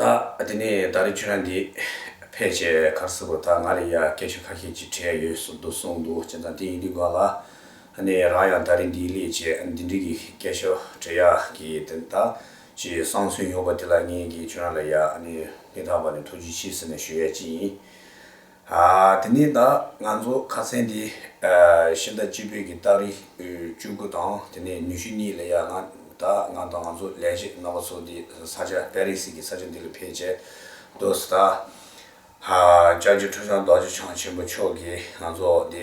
ད་དེ་ནས་ད་རེས་ཁྱོད་རང་གིས་ཕལ་ཆེར་གར་སོང་གོ་ད་ང་ལ་ཡང་སྐད་ཆ་ཁ་ཤས་ཅིག་དྲན་ཡོད་གསུངས་འདུག་གསུངས་འདུག་སྤྱིར་བཏང་དེ་ཡིན་དུས་གང་ལ་ནས་རང་ཡང་ད་རེས་འདིའི་ལས་བྱས་འདི་འདྲིའི་སྐད་ཆ་དྲི་ཡ་གི་དེ་ད་ཅི་གསང་སུན་ཡོང་པ་དེ་ལ་ངེད་ཀྱིས་ཁྱོད་རང་ལ་ཡང་སྙིང་ཐག་པ་ནས་ཐུགས་རྗེ་ཆེ་ཟེར་ནས་ཞུ་ཡས་ཅི་ཡིན། དེ་ནས་ད་ང་ཚོ་ཁ་ཚན་དེ་ཤིང་རྟ་སྤྱི་ཕུད་ཀྱི་སྟག་རི་བཅུ་དགུ་དང་དེ་ནས་ཉུ་ཤུ་གཉིས་ལ་ཡང་ན་ད་ང་དང་ང་ཚོ་ལས་བྱེད་རྣམ་པ་ཚོ་དེ་ས་ཆ་པེ་རི་སི་ཀྱི་ས་ཆ་འདི་ལ་ཕེབས་བྱས་འདུག་ད་ལྕགས་ཀྱི་ཁྲུ་ཆང་རྡོ་རྗེ་འཆང་ཆེན་པོ་མཆོག་གིས་ང་ཚོ་དེ་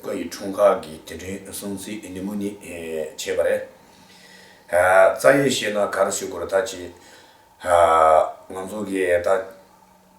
བཀའ་ཡི་འཁྲུངས་སྐར་གྱི་དེ་དྲན་སྲུང་བརྩི་ནི་མོ་ནི་བྱས་པ་རེད། རྩ་ཡིག་ཤེས་ན་ག་རེ་བྱེད་དགོས་རེད་ད་ཅེས་ང་ཚོ་གིས་ད།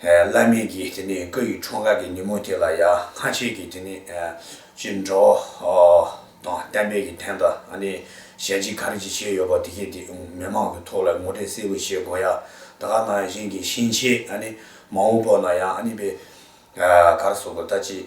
བླ་མེད་ཀྱི་དེ་ནས་བཀའ་ཡི་འཁྲུངས་སྐར་གྱི་ཉིན་མོ་དེ་ལ་ཡང་སྔ་ཕྱི་གྱི་དེ་ནས་ཅི་འགྲོ་དང་གཏན་འབེབས་ཀྱི་དོན་དང་ཨ་ནི་གཞན་ཅི་གར་ཅི་བྱས་ཡོད་པ་དེ་གས་དེ་མི་མང་གི་ཐོག་ལ་ངོ་སྤྲད་གསལ་བོ་བྱེད་དགོས་ཡ་ད་ག་ནང་བཞིན་གྱི་ཤིང་ཆེ་ཨ་ནི་མང་བོ་པོ་ན་ཡང་ཨ་ནི་པའི་གར་སོགས་པོ་ད་ཅི་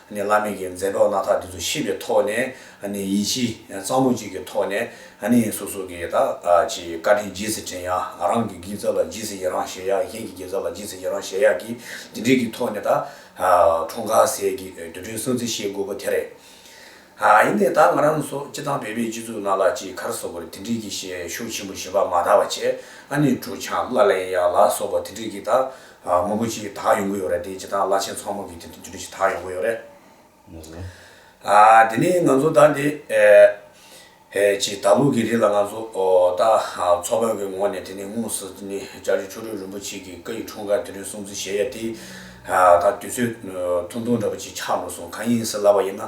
ནས་བླ་མེད་ཀྱི་མཛད་གྲོགས་སྣ་ཐག་འདི་ཚོ་ཤེས་པའི་ཐོག་ནས་ཡིད་ཆེས་གཙང་མོ་ཅིག་གི་ཐོག་ནས་སོ་སོ་གི་ད་ཅི་བཀའ་དྲིན་རྗེས་སུ་དྲན་ཡག་ང་རང་གི་དགེ་རྩ་ལ་རྗེས་སུ་ཡི་རང་བྱེད་ཡག་གཞན་གྱི་དགེ་རྩ་ལ་རྗེས་སུ་ཡི་རང་བྱེད་ཡག་གི་དེ་འདྲའི་གི་ཐོག་ནས་ད་ཁྲོམ་ཁ་ཟས་ཀྱི་དུས་དྲན་སྲུང་བརྩི་བྱེད་དགོས་པོ་དེ་རེད། ཡིན་ནས་ད་ང་རང་སོགས་སྤྱི་བཏང་བོད་པའི་སྤྱི་ཚུགས་ནང་ལ་ཅིག་གར་སོགས་པོ་རེ་དེ་འདྲའི་གི་ཤེད་ཤུགས་ཆེན་པོ་བྱེད་པ་མ་ད་བ་བྱས་ཨ་ནི་གྲུ་ཆང་བླ་ལེན་ཡག་ལ་སོགས་པ་དེ་འདྲའི་གི་ད་དངོས་པོ་ཞིག་དག་ཡོང་གི་ཡོད་རེད་དེ་བྱེད་སྟངས་བླ་ཆེན་མཚོ་སྔོན་གྱི་དེ་འདྲ་ཞིག་དག་ཡོང་གི་ཡོད་རེད། དེ་ནས་ང་ཚོ་ད་འདི་ཕྱི་ད་ལོ་གི་རིང་ལ་ང་ཚོ་ད་མཚོ་བོད་ཀྱི་ངོས་ནས་དེ་ནས་དངོས་སུ་དེ་ནས་ལྕགས་ཀྱུ་ཆོས་སྒྲོན་རིན་པོ་ཆེ་གི་བཀའ་ཡི་འཁྲུངས་སྐར་དེ་རིང་སྲུང་བརྩི་བྱེད་ཡས་དེ་ད་དུས་ཚོད་ཐུང་ཐུང་འདྲ་པོ་ཅིག་ཆགས་འགྲོ་སོང་གང་ཡིན་ཟེར་ལབ་པ་ཡིན་ན་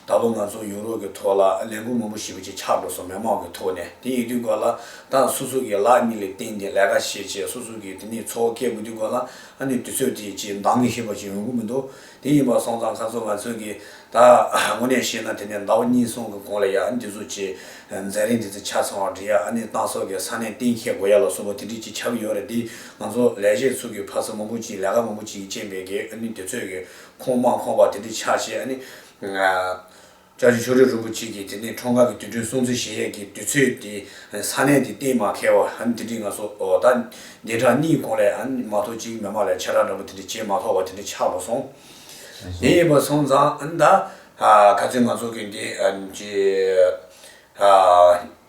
ད་ལོ་ང་ཚོ་ཡུ་རོབ་ཀྱི་ཐོག་ལ་ལས་འགུལ་མང་པོ་ཞིག་པོ་ཅིག་ཆགས་འགྲོ་སོང་མི་མང་གི་ཐོག་ནས་དེ་ཡིན་དུས་སྐོར་ལ། དང་སོ་སོ་ཀའི་ལག་གཉིས་ལས་བརྟེན་ཏེ་ལས་ཀ་བྱེད་བྱས་སོ་སོ་ཀའི་དེ་ནས་འཚོ་བ་སྐྱེལ་དགོས་དུས་གོ་ལ་ནི་དུས་ཚོད་དེའི་ཆེས་འདང་མི་ཤེས་པ་ཞིག་ཡོང་གི་མི་འདུག་དེ་ཡིན་པར་སོང་ཙང་ཁ་ཚོན་ང་ཚོས་ཀྱི་ད་དངོས་གནས་བཤད་ན་དེ་ནས་ཟླ་བ་གཉིས་གསུམ་གི་གོང་ལ་ཡ་འདི་ཚོ་ཆེས་མཛའ་རིང་དེ་ཚོ་ཆ་ཚང་བར་འབྲི་ཡ་ཨ་ནི་ཏང་སོགས་ཀྱི་ས་གནས་གཏན་འཁེལ་དགོས་ཡ་ལ་སོགས་པ་དེ་འབྲི་ཅི་ཆགས་ཀྱི་ཡོད་རེད་དེ་ང་ཚོ་ལས་བྱེད་ཚོ་ཀྱི་ཕ་ས་མང་པོ་ཅིག་ལས་ཀ་མང་པོ་ཅིག་གི་རྐྱེན་པས་ཀྱི་ཨ་ནི་དེ་ཚོས་ཀྱི་ཁོངས་མང་ཁོངས་པ་དེ་འབྲི་ཆགས་བྱས་ཨ་ནི། ལྕགས་ཀྱུ་ཆོ་འཕྲུལ་རིན་པོ་ཆེ་གྱིས་དེ་ནས་འཕྲོ་འགག་གི་དུས་སྟོན་སྲུང་བརྩི་གཞལ་ཡས་ཀྱི་དུས་ཚོད་དེ་ས་གནས་དེ་གཏན་མ་ཁེལ་བར་དེ་འདྲི་ང་སོ་ད་ནས་གྲངས་གཉིས་གོང་ལས་མ་ཐོག་ཅིག་མི་མང་ལ་ཆེ་གྲངས་འདྲ་པོ་དེ་འདྲི་བྱས་མ་ཐོག་བ་དེ་འདྲི་ཆགས་པོ་སོང། དེ་ཡིན་པ་སོང་ཙང་ད་ག་ཚོད་ང་ཚོ་གི་འདི་ཀྱི།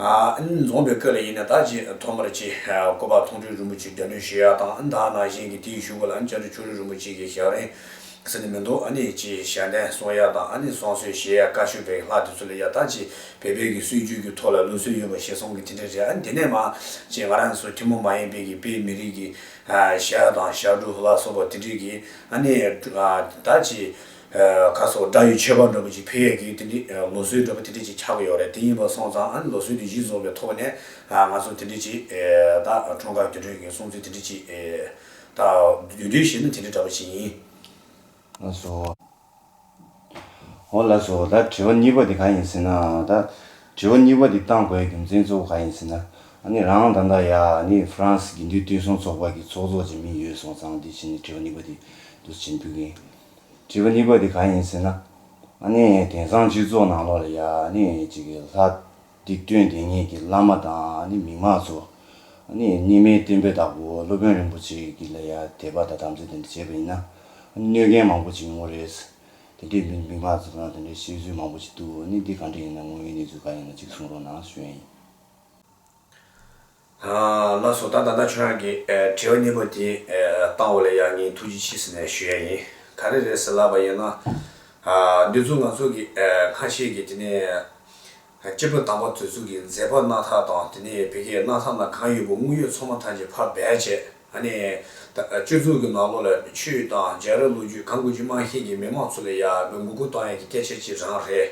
འཛོམས་པའི་སྐལ་ལ་ཡིན་ན་ད་ཅི་ཐོག་མར་ཅི་བཀོད་པ་ཐུང་ཁྲི་རིན་པོ་ཆེ་རྒྱ་མདུན་ཞུ་ཡ་དང་ད་ནང་བཞིན་གྱི་དེའི་ཞུ་བ་ལ་བཅར་འདྲི་ཆོ་རི་རིན་པོ་ཆེ་གི་ཞག་རིང་ཟེར་ནི་མི་འདུག་ནས་ཅི་ཞལ་འདན་གསུང་ཡ་དང་ནས་གསུང་སྲོལ་བྱེད་ཡ་དཀའ་ཤོས་པའི་ལྷག་དེ་ཚོ་ལ་ཡ་ད་ཅི་བེད་བེད་ཀྱི་སྲོལ་རྒྱུན་གྱི་ཐོག་ལ་ལུགས་སྲོལ་ཡོད་པ་ཞེས་སོང་གི་དེ་འདྲ་རེད་ཨ་དེ་ནས་མ་ཅི་ང་རང་ཚོ་ཐུན་མོང་མ་ཡིན་པའི་གི་དཔེ་མི་རིགས་གི་ཞལ་དང་ཞག་དྲུག་ལ་སོགས་པ་དེ་འདྲས་གི་ནས་ད་ཅི། ཁ་སོ་བཀྲ་ཡི་ཆོས་པ་འགྲོ་བའི་ཅི་འཕེལ་ཡས་ཀྱིས་དེ་འདྲི་ལོ་སུའི་འགྲོ་བ་དེ་འདྲི་ཅི་ཆགས་ཀྱི་ཡོད་རེད་དེ་ཡིན་པར་སོང་ཙང་ཨ་ནི་ལོ་སུའི་དེ་གཞི་བཟུང་བའི་ཐོག་ནས་ང་ཚོ་དེ་འདྲི་ཅི་ད་གྲོང་དཀར་དུད་འགྲོའི་གིང་སྲུང་ཚིག་དེ་འདྲི་ཅི་ད་དུད་འགྲོའི་གཞི་ནི་དེ་འདྲི་འདྲ་བ་ཞིག་ཡིན། ལ་སོ། འོ་ལ་སོ་ད་དྲི་བ་གཉིས་པ་དེ་ག་ཡིན་ཟེར་ན་ད་དྲི་བ་གཉིས་པ་དེ་བཏང་དགོས་རྒྱུ་མཚན་གཙོ་བོ་ག་ཡིན་ཟེར་ན་ཨ་ནི་རང་ད་ལྟ་ཡ་ཨ་ནི་ཧྥི་རན་སི་དགེ་འདུན་བསྟུན་སྲུང་ཚོགས་པ་གྱི་ཚོགས་གཙོ་ཅིག་མིན་ཡོད་སོང་ཙང་དེ་བཞིན་དྲི་བ་གཉིས་པ་དེ་འདུ་བྱེད་འདུག་གིང། བྱིས་པ་གཉིས་པ་དེ་གང་ཡིན་ཟེར་ན། ཨ་ནི་དེང་སང་སྤྱི་ཚོགས་ནང་ལོགས་ལ་ཡ་ནི་གཅིག་གི་ལྷ། སྡིག་དོན་དེ་ཉིད་ཀྱི་བླ་མ་དང་ཨ་ནི་མིག་མངས་ཚོ། ཨ་ནི་གཉིས་མེད་བསྟན་པའི་བདག་པོ་སློབ་དཔོན་རིན་པོ་ཆེ་ཀྱི་ལ་ཡ་དད་པ་དང་དམ་ཚིག་དེ་འདྲ་བྱས་པ་ཡིན་ན། ཨ་ནི་གནོད་མཁན་མང་པོ་ཅིག་ཡོང་གི་རེད། དེ་འདྲའི་མིག་མངས་ཚོ་དང་དེ་འདྲའི་བཤད་ཚུལ་མང་པོ་ཅིག་འདུག་ཨ་ནི་འདི་གང་འདྲ་ཡིན་ན་དངོས་ཡོད་གནས་ཚུལ་གང་ཡིན་ན་གཅིག་གསུང་རོགས་གནང་ཞུ་ཡ་ཡིན། ལ་སོགས་ད་ད་ལྟ་ཁྱོད་རང་གི་དྲི་བ་སྙན་པོ་དེ་བཏང་བ་ལ་ཡང་ངས་ཐུགས་རྗེ་ཆེ་ཟེར་ནས་ཞུ་ཡ་ཡིན། ག་རེ་རེད་ཟེར་ལབ་པ་ཡིན་ན། འདི་ཚོ་ང་ཚོ་གི་ཁ་ཤས་ཀྱི་དེ་ནས་སྐྱེ་བོ་དམ་པ་དེ་ཚོ་གི་མཛད་པ་སྣ་ཐག་དང་དེ་ནས་བི་ཀའི་སྣ་ཐག་ན་གང་ཡོད་པོ་དངུལ་ཡོད་ཚོང་མ་ཐག་ཅིག་ཕར་སྦས་བྱས་ཨ་ནི། སྤྱོད་ཚུལ་གི་ནང་ལོགས་ལ་ཆོས་དང་སྦྱར་ར་ལོ་རྒྱུས་གང་དགོས་ཀྱི་དམངས་ཤེད་ཀྱི་མི་དམངས་ཚོ་ལ་ཡག་པོའི་མགོ་སྐོར་གཏོང་ཡ་གི་སྐད་ཆ་གཅིག་རང་རེད།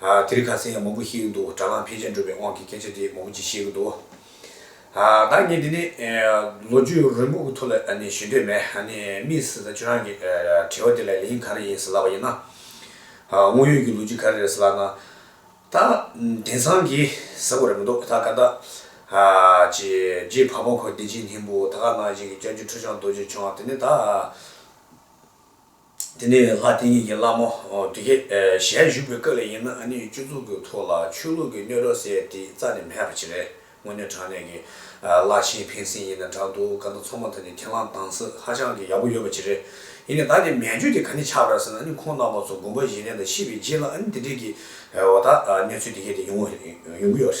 དེར་ག་ཚད་ཡང་མོ་བུ་ཤེས་ཀྱི་འདུག་དྲ་ལམ་ཕལ་ཆེར་འགྲོ་བའི་དབང་གིས་སྐད་ཆ་དེ་མོ་བུ་གཅིག་ཤེས་ཀྱི་འདུག་ད་ངས་འདི་ནས་ལོ་རྒྱུས་རིང་པོ་གི་ཐོག་ལ་ཞུ་འདོད་མེད་དམིགས་བསལ་ཁྱོད་རང་གི་དྲི་བ་དེ་ལ་ལན་ག་རེ་ཡིན་ཟེར་ལབ་པ་ཡིན་ན། དངོས་ཡོད་ཀྱི་ལོ་རྒྱུས་ག་རེ་རེད་ཟེར་ལབ་ན། ད་དེང་སང་གི་ཟེར་བ་རེད་མི་འདུག་ད་ཀ་དག་རྗེ་ཕག་མོ་འཁོར་བདེ་ཆེན་སྙིང་པོ་ད་ཀ་ནང་བཞིན་གྱི་སྐྱབས་རྗེ་ཁྲོ་བྱང་རྡོ་རྗེ་འཆང་དེ་ནི་ད། དེ་ནས་ལྷ་དེ་ཉིད་ཀྱིས་བླ་མ་དེ་གའི་ཞལ་བཞུགས་པའི་སྐབས་ལས་ཡིན་ན་ཨ་ནུའི་སྤྱི་གཙུག་གི་ཐུགས་ལ་ཆོས་ལུགས་ཀྱི་སྣོད་རོ་སེ་དེ་རྩ་ནས་མེད་པ་ཅི་རེད་དངོས་གནས་དྲང་གནས་ཀྱི་བླ་ཆེན་ཕན་སེམས་ཡིན་ན་དྲག་འདུག་ག་ན་ཚོགས་མ་དེ་ནི་ཁས་བླངས་དང་སྲིད་ཧ་ཅང་གི་ཡག་པོ་ཡོད་པ་ཅི་རེད་ཡིན་ནས་ད་ནི་མན་ཇུ་དེ་ག་ནས་ཆགས་པ་རེད་ཟེར་ན་ཨ་ནི་ཁོང་རྣམ་པ་ཚོ་དགོན་པ་བཞེས་ལན་དང་ཤི་བའི་རྗེས་ལ་ཨ་ནི་དེ་འདྲས་ཀྱི་འོ་ད་གནས་ཚུལ་དེ་གས་དེ་ཡོང་གི་ཡོད་རེད།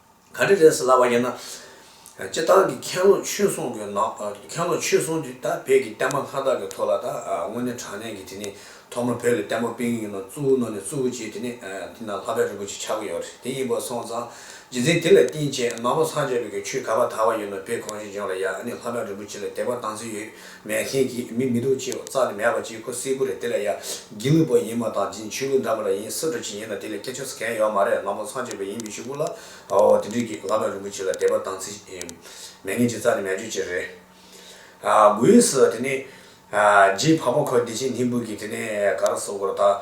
ག་རེ་རེད་ཟེར་ལབ་པ་ཡིན་ན། སྤྱི་བཏང་གི་ཁེང་ལོ་ཆོས་སྲུང་གི་ནང་ཁེང་ལོ་ཆོས་སྲུང་དེ་ད་བོད་ཀྱི་བསྟན་པ་མཁའ་དག་གི་ཐོག་ལ་ད་དངོས་གནས་དྲང་གནས་ཀྱི་དེ་ནི་ཐོག་མ་བོད་ཀྱི་བསྟན་པ་སྤེལ་གི་ཡིན་ནོ་གཙུག་བོ་ནོར་ནས་གཙུག་བོ་བྱས་དེ་ནི་དེ་ན་ལྷ་དཔལ་རིན་པོ་ཆེ་ཆགས་ཀྱི་ཡོད་རེད་དེ་ཡིན་པ་སོང་ཙང་རྗེ་བཙུན་དེ་ལ་བསྟེན་བཅས་ནང་པ་སངས་རྒྱས་བོད་ཀྱི་ཆོས་ག་བ་དར་བ་ཡིན་ནོ་བོད་གངས་ཅན་ལྗོངས་ལ་ཡ་ཨ་ནི་ལྷ་དཔལ་རིན་པོ་ཆེ་ལ་དད་པ་བཏང་ཚེ་ཡོད་མེད་མཁན་གྱི་མི་མི་འདུག་ཅེས་རྩ་ནས་མེད་པ་གཅིག་ཁོ་སྲིད་གོ་རེད་དེ་ལ་ཡ་བགྱི་ནུས་པ་ཡིན་མ་ཐག་འབྱིན་ཆུ་ལུག་འདྲ་མ་ར་ཡིན་སྲིད་འགྲོ་བྱེད་ཡིན་ན་དེ་ལས་སྐད་ཆ་ཟེར་མཁན་ཡོད་མ་རེད་ལམ་ལོ་ཚང་བྱས་པ་ཡིན་མི་ཞུ་བུ་ལ་ཨོའོ་དེ་དུས་ཀྱི་བླ་མ་རིན་པོ་ཆེ་ལ་དད་པ་དང་ཚིག་མེད་མཁན་གྱི་རྩ་ནས་མེད་བརྗོད་བྱེད་རེད་དགོས་ཨིས་དེ་ནས་རྗེས་ཕག་པ་ཁོ་བདེ་ཆེན་ལྷིང་བུ་གིས་དེ་ནས་ག་ར་བཟོ་དགོས་ར་ད།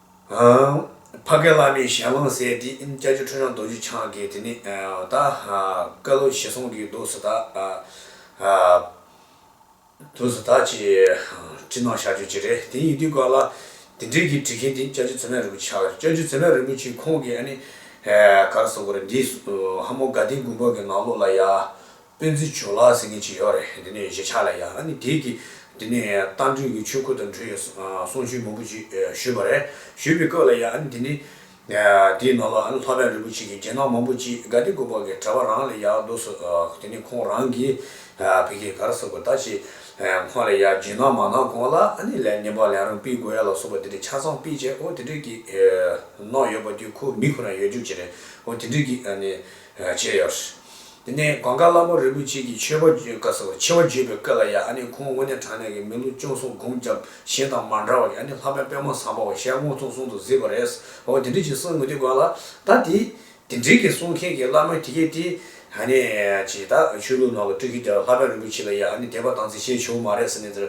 ཕ་སྐད་བླ་མའི་ཞལ་རླངས་གསལ་བྲིས་ཀྱ་ཅོ་ཁྲོས་དབྱངས་རྡོ་རྗེ་འཆང་གི་དེ་ནས་ད་སྐལ་ལོ་ཞེ་སོང་གི་དུས་སུ་ད་དུས་སུ་ད་ཅེས་བྲིས་གནང་བཞག་ཆོས་ཅི་རེད་དེ་ཡིན་དུས་སྐབས་ལ་དེ་འབྲེལ་གྱི་བྲིས་མཁན་དེ་ཀྱ་ཅོ་ཚེ་སྨད་རིན་པོ་ཆེ་ཨ་ཀྱ་ཅོ་ཚེ་སྨད་རིན་པོ་ཆེ་ཁོང་གིས་ཨ་ནི་ག་རེ་བཟོ་དགོས་རེད་འདི་ཧ་མོ་དགའ་ལྡན་དགུན་འབོད་ཀྱི་ནང་ལོགས་ལ་ཡ། སྤེན་ཚེ་ཇོ་ལགས་ཟེར་མཁན་ཅིག་ཡོད་རེད་འདི་ནས་གཞིས་ཆགས་ལ་ཡང་ནི་དེའི་གི་འདི་ནས་རྟ་མགྲིན་གི་ཆོས་ཁུར་དང་འབྲེལ་ཡོད་གསུང་ཆོས་མང་པོ་ཅིག་ཞུས་པ་རེད་ཞུས་པའི་སྐབས་ལ་ཡང་ནི་འདི་ནི་དེའི་ནང་ལ་ལྷ་བན་རིན་པོ་ཆེ་གི་རྒྱན་ནག་མང་པོ་ཅིག་དགའ་བདེ་སྒོ་དཔག་གི་གྲྭ་བ་རང་ལ་ཡག་འདུག་ཟེར་དེ་ནི་ཁོང་རང་གིས་བོད་སྐད་ག་རེ་ཟེར་དགོས་ད་ཅིག་ཁོང་ལ་ཡག་རྒྱན་ནག་མ་གནང་གོང་ལ་ནི་ལས་ཉེས་པ་ལས་རང་སྤེལ་དགོས་ཡ་ལ་སོགས་པ་དེ་འདྲའི་ཆ་ཚང་སྤེལ་བྱས་ཨོ་དེ་འདྲའི་གི་གནང་ཡོད་པ་དེ་ཁོ་མི་ཁོ་ན་ཡོད་རྒྱུ་ཅི་རེད་ཨོ་དེ་འདྲའི་གི་ནི་བྱས་ཡོད། དེ་ནས་གངས་དཀར་བླ་མ་རིན་པོ་ཆེ་གྱིས་མཆོད་པ་བརྗོད་བཀའ་ཟེར་བ་ཆེ་བ་བརྗོད་པའི་སྐད་ལ་ཡང་ཨ་ནི་ཁོང་དངོས་གནས་དྲང་གནས་ཀྱི་མི་ལོ་བཅུ་གསུམ་སྒོམ་བརྒྱབ་གཞན་དང་མ་འདྲ་བ་ཡང་ནི་ལྷག་པའི་པད་མ་བཟང་པོ་བ་ཞལ་སྔོ་ཐུང་གསུང་དུ་གཟིགས་པ་རེད། འོ་དེ་འདྲི་ཅིག་གསང་དངུལ་དེ་དགོས་ལ། ད་དེ་དེ་འདྲི་གི་གསུང་མཁན་གྱི་བླ་མ་དེ་གས་དེ་ཧ་ནི་ཅིག་ད་ཆོས་ལུགས་ནང་ལ་སྤྲུལ་གི་དེ་ལ་ལྷག་པའི་རིན་པོ་ཆེ་ལ་ཡང་ཨ་ནི་དད་པ་དང་བརྩི་བྱའི་ཆོས་མ་རེད་ཟེར་ནས་དེར་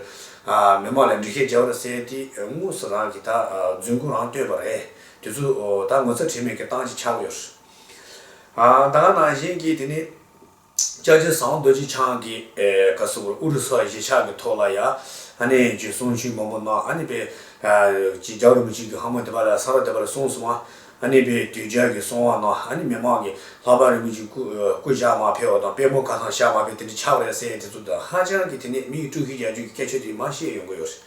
མི་མང་ལ་འདྲི་ཁའི་རྒྱབ་ར་བསལ་དེ་དངོས་སུ་རང་གི་ད་རྫུན་སྐུ་རང་བསྟོད་པ་རེད་དེ་ཚོ་ད་ངོ་ཚ་དྲི་མེད་ཀྱི་སྟངས་ཀྱི་ཆགས་ཡོད། ད་ག་ནང་བཞིན་གྱི་དེ་ནི། ལྕགས་ཀྱི་ཟངས་རྡོ་རྗེ་འཆང་གི་ག་ས་གུར་ཨུ་རུ་སུ་གཞིས་ཆགས་ཀྱི་ཐོག་ལ་ཡ་ཧ་ནའི་རྒྱུད་གསུང་ཆོས་མང་པོ་གནང་ཨ་ནི་པའི་གྱི་རྒྱ་རུ་མི་གཅིག་གི་ཧ་མོ་དེ་པ་ལ་ས་ར་དེ་པ་ལ་གསུང་གསུང་ཨ་ཨ་ནི་པའི་དུས་རྒྱལ་གྱི་གསུང་བ་གནང་ཨ་ནི་མི་མང་གི་ལྷག་པ་རིན་པོ་ཆེ་སྐུ་སྐུ་བཞག་མ་ཕེ་བ་དང་དཔལ་མོ་ཁ་སང་བཞག་མ་ཕེ་དེ་འདྲ་ཆགས་པ་རེད་ཟེར་ཡས་དེ་ཚོ་དང་ཧ་ཅང་གི་དེ་ནས་མིའི་སྤྲུལ་གྱི་རྒྱལ་རྒྱུད་ཀྱི་སྐད་ཆོས་དེ་མ་བཤད་ཡོང་གི་ཡོད་རེད།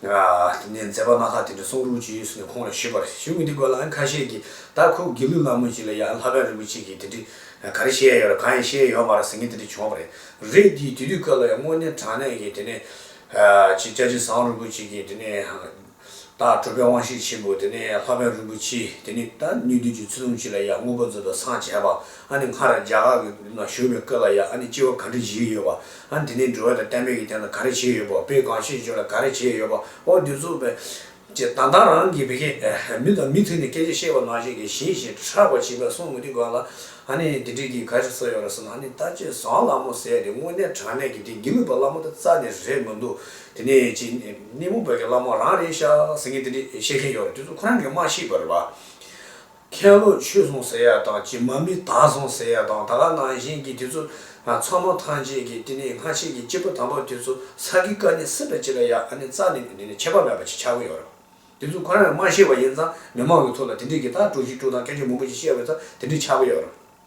དེ་ནས་མཛད་པ་མ་ཁ་དེ་ནས་གསུང་རུང་ཅི་ཡོད་ཟེར་ནས་ཁོང་ལ་ཞུས་པར་གཞུང་གི་འདི་སྐོར་ལའང་ཁ་ཤས་ཀྱིས་ད་ཁོ་དགེ་ལུགས་ནང་མོ་ཅིག་ལ་ཡང་ལྷ་བན་རིན་པོ་ཆེ་གིས་དེ་འདྲི་ག་རེ་བཤད་ཡ་ཡོད་ར་གང་ཡང་བཤད་ཡ་ཡོད་མ་ར་ཟེར་ངས་དེ་འདྲི་བྱུང་བ་མ་རེད་རེད་དེ་དེ་དུས་སྐབས་ལ་ཡང་དངོས་གནས་དྲང་གནས་ཀྱི་དེ་ནས་ཆེ་བསྐྱར་ཆེ་བཟང་རིན་པོ་ཆེ་གིས་དེ་ནས་ད་གྲུབ་པའི་དབང་ཤེས་ཆེན་པོ་དེ་ནས་ལྷ་བན་རིན་པོ་ཆེ་དེ་ནས་ད་ནུས་མཐུ་ཆོས་ཚུལ་ལུང་ཅིག་ལ་ཡང་དངོས་པོ་མཛོད་དུ་སངས་བྱས་པ་ཨ་ནི་སྔར་རྒྱ་གར་གྱི་ན་བཞུགས་པའི་སྐབས་ལ་ཡང་ཨ་ནི་སྐྱེ་བ་ག་འདྲི་བཞེས་ཡོད་པ། ཨ་འདི་ནས་འགྲུལ་བ་དང་གཏན་འབེབས་ཀྱི་སྟེང་ལ་ག་རེ་བྱས་ཡོད་པ་བོད་གངས་ཤེད་ཅུ་ལ་ག་རེ་བྱས་ཡོད་པ་ཨོ་བདུད་རྩུབ་པའི། ཅེས་དང་ཐང་རང་གི་བི་གེ། མི་དང་མི་མཐུན་ནས་སྐད་ཆ་བཤད་པ་ནང་བཞིན་གྱི་ཞེས་ཞེས་ཁྲག་པ་བྱིས་པ་གསུང་མི་དྲི་གང་ལ། ཨ་ནི་འདི་འདྲས་ཀྱིས་ག་རེ་བསགས་ཡོད་རེད་བསམ་ན་ཨ་ནི་ད་ཅེས་བཟང་ལ་མོ་ཟས་དེ་དངོས་གནས་དྲང་གནས་ཀྱི་དེ་དགེ་ལུགས་པ་བླ་མོ་ད་རྩ་ནས་རེད་མི་འདུག་དེ་ནས་ཅེས་སྣེ་མོ་བོད་ཀྱི་བླ་མོ་རང་རེད་ཤག་ཟེར་མཁན་དེ་འདྲས་བཤད་མཁན་ཡོད་རེད་དེ་ཚོ་ཁོ་རང་གིས་མ་ཤེས་པར་རེད་བ། མཁན་སློབ་ཆོས་སོང་ཟེར་ཡག་དང་གྱི་མ་མི་དྭགས་སོང་ཟེར་ཡག་དང་ད་ག་ནང་བཞིན་གྱི་དེ་ཚོ་ཚང་མ་ཐང་ཆད་གྱི་དེ་ནས་སྔ་ཕྱི་གྱི་སྐྱེས་བུ་དམ་པ་དེ་ཚོ་ས་གི་བཀའ་ནི་སྲིད་པ་ཅི་ལ་ཡག་ཨ་ནི་རྩ་ནས་འདི་ནས་ཁྱད་པར་མེད་པ་ཅིག་ཆགས་གི་ཡོད་རེད་བ་དེ་ཚོ་གང་ཡང་མ་ཤེས་བ་ཡིན་ཙང་མི་མང་གི་ཐུགས་ལ་དེ་འདྲིས་གི་ད་དཀྲུགས་ཤིག་དཀྲུགས་དང་སྐད་ཆ་མང་པོ་ཞིག་བཤད་བས་ཙང་དེ་འདྲིས་ཆགས་གི་ཡོད་རེད།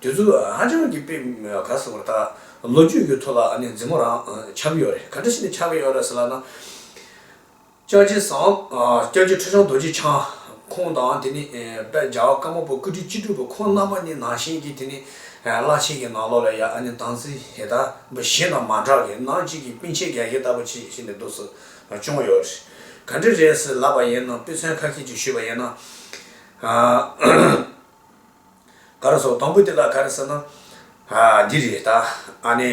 དེ་ཚོ་ཧ་ཅང་གི་དཔེ་ག་ཟེར་བར་ད་ལོ་རྒྱུས་ཀྱི་ཐོག་ལ་ཨ་ནེ་རྫི་མོ་རང་ཆགས་ཀྱི་ཡོད་རེད་ག་འདྲ་ཞིག་ནས་ཆགས་ཀྱི་ཡོད་རེད་ཟེར་ལགས་ན། སྐྱབས་རྗེ་བཟང། སྐྱབས་རྗེ་ཁྲོ་བྱང་རྡོ་རྗེ་འཆང། ཁོང་དང་དེ་ནས་དཔལ་རྒྱ་བཀའ་མ་པོ་སྐུ་དྲིན་སྤྱི་འགྲུབ་པ་ཁོང་རྣམ་པ་གཉིས་ནང་བཞིན་གྱི་དེ་ནས་བླ་ཆེན་གྱི་ནང་ལོགས་ལ་ཡང་ཨ་ནེ་དང་ཚེ་ཧེ་ད་འབུ་གཞན་དང་མ་འདྲ་གི་ནང་གཅིག་གི་སྤུན་མཆེད་ག་གེ་ལྟ་བུ་ཆེ་ཞིག་ནས་འདུག་ཟེར་བ་ཅུང་ཡོད་རེད་ག་འདྲ་རེད་ཟེར་ལབ་པ་ཡིན་ན་དཔེ་མཚོན་ཁ་ཁྱེད་ཀྱིས་ཞུས་པ་ཡིན་ན། ག་རེ་སོགས་དང་པོ་དེ་ལ་ག་རེ་ཟེར་ན། འདི་རེད་ད། ཨ་ནི།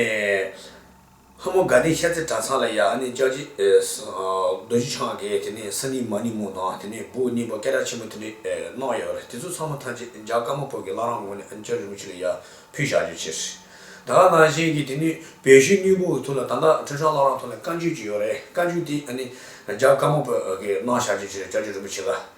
ལྷ་མོ་དགའ་ལྡན་ཤར་རྩེ་གྲྭ་ཚང་ལ་ཡ་ཨ་ནི་ལྕགས་བྱི། རྡོ་རྗེ་འཆང་གི་དེ་ནས་ས་ནི་མ་ནི་མོ་དང་དེ་ནས་བུ་གཉིས་པ་སྐེ་རགས་ཆེན་མོ་དེ་ནས་གནང་ཡོད་རེད་དེ་ཚོ་ཚང་མ་ཐམས་ཅད་འཇག་སྐར་མ་ཕོ་གི་བླ་རང་ངོ་ནས་ཨ་ནི་ལྕགས་རི་མོ་ཆུ་ལ་ཡ་ཕུལ་བཞག་རྒྱུ་བྱས་རེད་ད་ནང་བཞིན་གྱི་དེ་ནས་བོད་གཞུང་སྙིང་པོ་ཐུགས་ལ་ད་ལྟ་ཁྲི་ཧྲང་བླ་རང་ཐུགས་ལ་བཀའ་འགྱུར་གྱི་ཡོད་རེད་བཀའ་འགྱུར་དེ་ཨ་ནི་འཇག་སྐར་མ་ཕོ་གི་གནང་བཞག་རྒྱུ་བྱས་རེད་ལྕགས་ཀྱི་རི་མོ་ཆུ་ལ།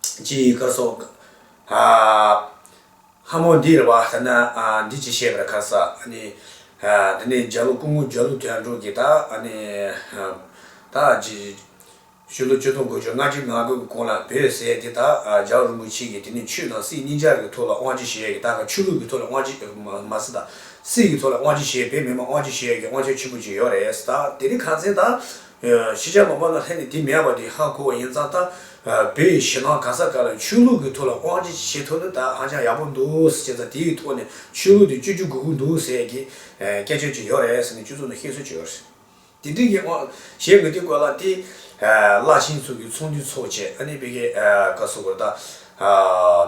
ཅི་ཡི་བཀའ་སོགས། ལྷ་མོ་འདི་རེ་བ་ལྟར་ན་འདི་ཅི་བཤད་པར་ཁ་སག། དེ་ནས་འཇའ་ལུས་སྐུ་ངོ་འཇའ་ལུས་དོན་གྲུབ་ཀྱིས་དག། ཕྱི་ལོ་བཅུ་སྟོང་དགུ་བཅུ་ང་གྲི་ང་དགུ་གི་གོང་ལ་བོད་ཟས་དེ་དག་ཇའོ་རིན་པོ་ཆེ་གིས་དེ་ནས་ཆུ་དང་སྲིད་གཉིས་ཆར་གྱི་ཐོག་ལ་དབང་ཆེ་ཞེས་ཀྱིས་དག་ཆུ་ལུག་གི་ཐོག་ལ་དབང་ཆེ་མ་སྲིད་དང། སྲིད་ཀྱི་ཐོག་ལ་དབང་ཆེ་ཞེས་བེད་མེད་མ་དབང་ཆེ་ཞེས་ཀྱིས་དབང་ཆ་ཆེན་པོ་བཅུ་ཡོད་རེད་དེ། དེ་ནི་ཁ་འཛིན་དང། ཤེས་བྱ་ལོག་པ་ལ་ལྷན་ནེ་དེ་མེད་པ་དེ་ཧ་གོ་བ་ཡིན་ཙང་ད་བོད་ཡི་ཞེ་སྣང་གང་ས་ག་ལ་ཆོས་ལུགས་ཀྱི་ཐོག་ལ་དབང་ཆེ་ཆེ་བྱེད་ཐུབ་ན་ད་ཧ་ཅང་ཡག་པོ་འདུག་ཟེར་ཙང་དེ་ཡི་ཐོག་ནས་ཆོས་ལུགས་དེ་བཅོས་བཅོས་གུག་གུག་འདུག་ཟེར་ཡ་གི་སྐད་ཆ་ཅིག་ཡོད་རེད་ཟེར་ནས་ཁྱོད་ཚོ་ནས་ཤེས་གསོལ་བྱོས་ཡོད་རེད། དེ་འདྲི་གི་ཨོ་གཞན་ངོས་དེ་ཀོ་ལ་དེ་བླ་ཆེན་ཚོ་གི་ཚོགས་འདུས་ཚོགས་བྱས་ཨ་ནེ་བེ་ཀེ་ཀ་སོ་གོར་ད་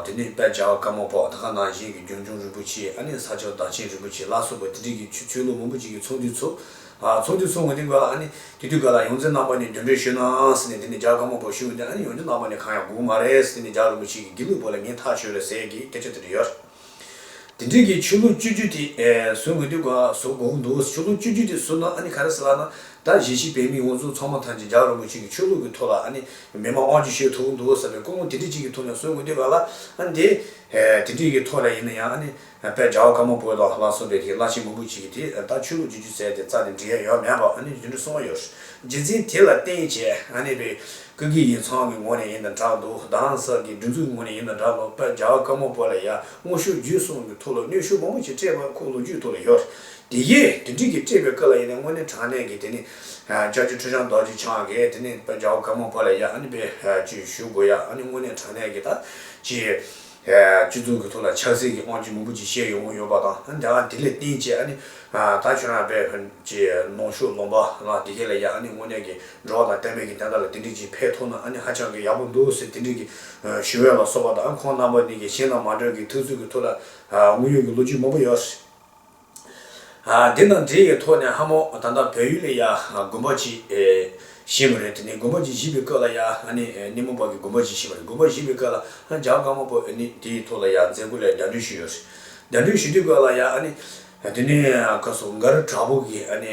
དེ་ནས་དཔལ་བྱ་བ་དཀར་མོ་པོ་ད་ག་ནང་བཞིན་གི་རྒྱུན་འབྱུང་རིན་པོ་ཆེ་ཨ་ནེ་ས་སྐྱོང་བདག་ཆེན་རིན་པོ་ཆེ་བླ་སོ་པོ་དེ་འདྲི་གི་ཆོས་ལུགས་མང་པོ་ཅིག་གི་ཚོགས་འདུས་ཚོགས། ཚོགས་ཀྱི་ཚོགས་ངོས་ཏེ་འགོད་ལ། དེ་དུས་འགོད་ལ་ཡོངས་འཛིན་རྣམ་པ་ནས་འདུན་གྲོས་ཞུས་ནའང་སྲིད་ནས་དེ་ནས་རྒྱ་དཀར་མོ་བོ་ཞུས་ནས་ཡོངས་འཛིན་རྣམ་པ་ནས་གང་ཡང་སྒུག་མ་རེད་སྲིད་ནས་རྒྱ་རིན་པོ་ཆེ་གིས་དགེ་ལུགས་བོ་ལ་ངས་ཐག་ཆོད་རེད་ཟེར་གི་སྐད་ཆ་དེ་འདྲ་ཡོད། དེ་འབྲེལ་གྱི་ཆོས་ལུགས་སྤྱོད་རྒྱུད་དེ་བཟོ་ངོས་ཏེ་བཟོ་དགོངས་འདུག་ཆོས་ལུགས་སྤྱོད་རྒྱུད་དེ་བཟོ་ན་ག་རེ་ཟེར་ལགས་ན། ད་གཞིས་བྱེས་བོད་མི་ངོ་ཚོ་ཚང་མ་ཐམས་ཅད་རྒྱ་རིན་པོ་ཆེ་གི་ཆོས་ལུགས་ཀྱི་ཐོག་ལ་མི་དམངས་དབང་ཆོས་ཤོད་ཐུབ་འདུག་ཟེར་བའི་ཀུ་མུ་དེ་འདྲི་གཅིག་གི་ཐོག་ནས་བཟོ་ངོས་ཏེ་ག་ལ། དེ་འདྲི་གི་ཐོག་ལ་ཡིན་ན་ཡང། དཔལ་གྲྭ་བ་དཀར་མོ་པོའི་ལགས་ལྷ་གསུམ་པའི་གིས་བླ་ཆེན་མུ་འབུད་བྱེད་ཀྱི་དེ་ལྟར་ཆོས་ལུགས་རྒྱུད་ཅུ་ཟད་དེ་རྩ་དེ་འབྲི་ཡ་ཡོད་མེད་པ་ཨ་ནི་དུད་འགྲོ་སྲུང་བ་ཡོད་རྗེས་འཛིན་དེ་ལ་བརྟེན་བྱས་ཨ་ནི་པའི་ཀུན་གྱི་ཡིག་ཚང་གི་ངོ་ནས་ཡིན་དང་འདྲ་འདུག་གདང་ས་ཀྱི་སྒྲིག་འཛུགས་ཀྱི་ངོ་ནས་ཡིན་དང་འདྲ་ལོ་དཔལ་གྲྭ་བ་དཀར་མོ་པོ་ལ་ཡ་སྔོ་ཤུར་རྒྱུད་གསུང་གི་ཐུགས་ལ་གནོད་ཤུགས་མང་པོ་ཞིག་སྤྲད་པ་ཁུག་ལོ་རྒྱུས་ཐུགས་ལ་ཡོད་དེ་ཡིས་དེ་འགྲིག་གིས་སྤྲད་པའི་སྐབས་ལ་ཡིན་ནའི་དངོས་གནས་དྲང་གནས་ཀྱི་དེ་ནི་ལྕགས་ཀྱུ་ཁྲུས་ཆང་རྡོ་རྗེ་འཆང་གིས་དེ་ནི་དཔལ་གྲྭ་བ་དཀར་མོ་པོ་ལ་ཡ་ཨ་ནི་པའི་བཅུད་ཞུ་དགོས་ཡ་ཨ་ནི་དངོས་གནས་དྲང་གནས་ཀྱི་ད་ཅི། སྤྱི་མཚུངས་ཀྱི་ཐོག་ལ་ཆགས་སྲེད་ཀྱི་དབང་ཆེན་མང་པོ་ཅིག་བཤད་ཡོང་གི་ཡོད་པ་དང་དེ་འདྲ་དེ་ལས་བརྟེན་བཅས་ཨ་ནི་ད་ཁྱོད་རང་བས་ཧོན་གྱི་ནང་ཤུགས་ལོངས་པ་ལ་དེ་ག་ལ་ཡག་ཨ་ནི་དངོས་གནས་ཀྱི་འགྲོ་བ་དང་བསྟན་པའི་གི་དན་ཁ་ལ་དེ་འདྲི་གྱིས་ཕེ་ཐོག་ན་ཨ་ནི་ཧ་ཅང་གི་ཡག་པོ་འདུག་ཟེར་དེ་འདྲི་གི་ཞུ་བས་ལ་སོགས་པ་དང་ཁོང་རྣམ་པ་ནི་གི་གཞན་དང་མ་འདྲ་གི་ཐུགས་རྩུད་ཀྱི་ཐོག་ལ་དངོས་ཡོད་ཀྱི་ལོ་རྒྱུས་མང་པོ་ཡོད། འདི་དང་འདི་ཡི་ཐོག་ནས་ཧ་མོ་ད་ལྟ་བོད་ཡུལ་ལ་ཡ་དགོན་པ་གཅིག་བཞེངས་པ་རེད་དེ་ནས་དགོན་པ་གཅིག་བཞེངས་པའི་སྐབས་ལ་ཡ་ནི་མོ་བག་གི་དགོན་པ་གཅིག་བཞེངས་པ་རེད་དགོན་པ་བཞེངས་པའི་སྐབས་ལ་འཇག་དཀར་མོ་བོ་ནི་དེའི་ཐོག་ལ་ཡ་མཛད་སྒོ་ལས་བརྡ་འཕྲིན་ཞུས་ཡོད་རེད་བརྡ་འཕྲིན་ཞུ་དུས་སྐབས་ལ་ཡ་ནི་དེ་ནས་ཁ་སོ་མགར་གྲགས་པོ་གིས་ནི།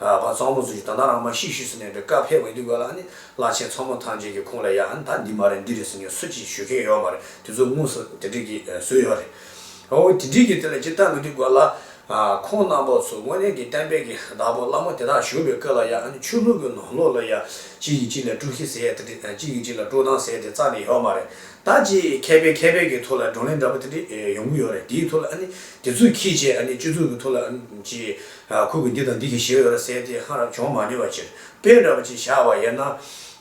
ཨ་བ་གཙང་མོ་ཟུར་གྱི་ད་ནང་རང་མ་ཤི་ཤི་ཟེར་ནས་འདྲི་ཀ་ཕེབས་འོས་འདུག་ག་ལ་ནི་བླ་ཆེན་ཚང་མོ་ཐམས་ཅད་ཀྱི་ཁུངས་ལ་ཡ་ད་འདི་མ་རེད་འདི་རེད་ཟེར་ནས་སུ་གཅིག་ཞུ་མཁན་ཡོད་མ་རེད་དེ་ཚོ་དངོས་སུ་དེ་འདྲི་གི་སུ་ཡོད་རེད། འོ་དེ་འདྲི་གི་དེ་ལ་ཅི་ལྟ་མི་འདུག་ག་ལ། ཁོང་རྣམ་པ་ཚོ་དངོས་གནས་ཀྱི་གཏན་འབེབས་ཀྱི་བདག་པོ་བླ་མོ་དེ་དག་བཞུགས་པའི་སྐུ་ལ་ཡ་ནི་ཆོས་ལུགས་ཀྱི་ནང་ལོགས་ལ་ཡ་གཅིག་གིས་གཅིག་ལ་དཀྲུག་ཤི་ཟེར་དེ་འདྲི་གཅིག་གིས་གཅིག་ལ་དཀྲུག་སྡང་ཟེར་དེ་རྩ་ནས་ཡོད་མ་རེད་ད་ཅི་མཁས་པའི་མཁས་པའི་གི་ཐུགས་ལ་བགྲོ་གླེང་འདྲ་པོ་དེ་འདྲི་ཡོང་གི་ཡོད་རེད་དེའི་ཐུགས་ལ་ནི་དེ་ཚོ་གིས་ཅེ་ཨ་ནི་སྤྱི་ཚོགས་ཀྱི་ཐུགས་ལ་ཅི། ཁུར་གྱིས་འདི་དང་འདི་གྱིས་ཞེས་འོད་ལ་གསལ་ཏེ་ཧ་རམ་འབྱུང་མ་ནུས་པ་ཕྱིར་དཔེ་འདྲ་པོ་ཅིག་བཞག་བ་དབྱེ་ན།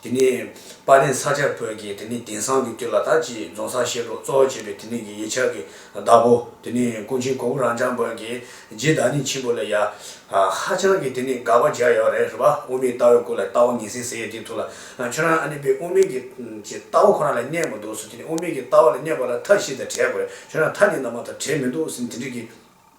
དེ་ནི། དཔའ་ལྡན་ས་སྐྱར་བོད་ཀྱི་དེ་ནི་དེང་སང་གི་དུས་ལ་དྭགས་ཀྱི་རྫོང་སར་ཤེས་རྟོགས་གཙོ་བོ་བྱེད་པའི་དེ་ནི་གི་ཡིག་ཆ་གི་བདག་པོ་དེ་ནི་ཀུན་མཁྱེན་གོང་བུ་རང་བྱང་བོན་གྱི་རྗེའི་བདག་ཉིད་ཆེན་པོ་ལ་ཡ། ཧ་ཅང་གི་དེ་ནི་དགག་པ་རྒྱག་ཡག་རེད་རེད་པ་དབུ་མའི་ལྟ་བའི་སྐོར་ལ་ལྟ་བ་ངན་སེང་ཟེར་ཡས་དེའི་ཐུགས་ལ་ཁྱོད་རང་ཨ་ནི་པའི་དབུ་མའི་གི་ཀྱི་ལྟ་བ་ཁོ་རང་ལ་བསྙད་མོ་འདུག་སུ་དེ་ནི་དབུ་མའི་གི་ལྟ་བ་ལ་བསྙད་པ་ལ་མཐའ་བཞི་དང་བྲལ་དགོས་ཁྱོད་རང་མཐའ་གཉིས་ནང་མ་དང་བྲལ་མི་འདུག་སེམས་དེ་འདྲིས་གི།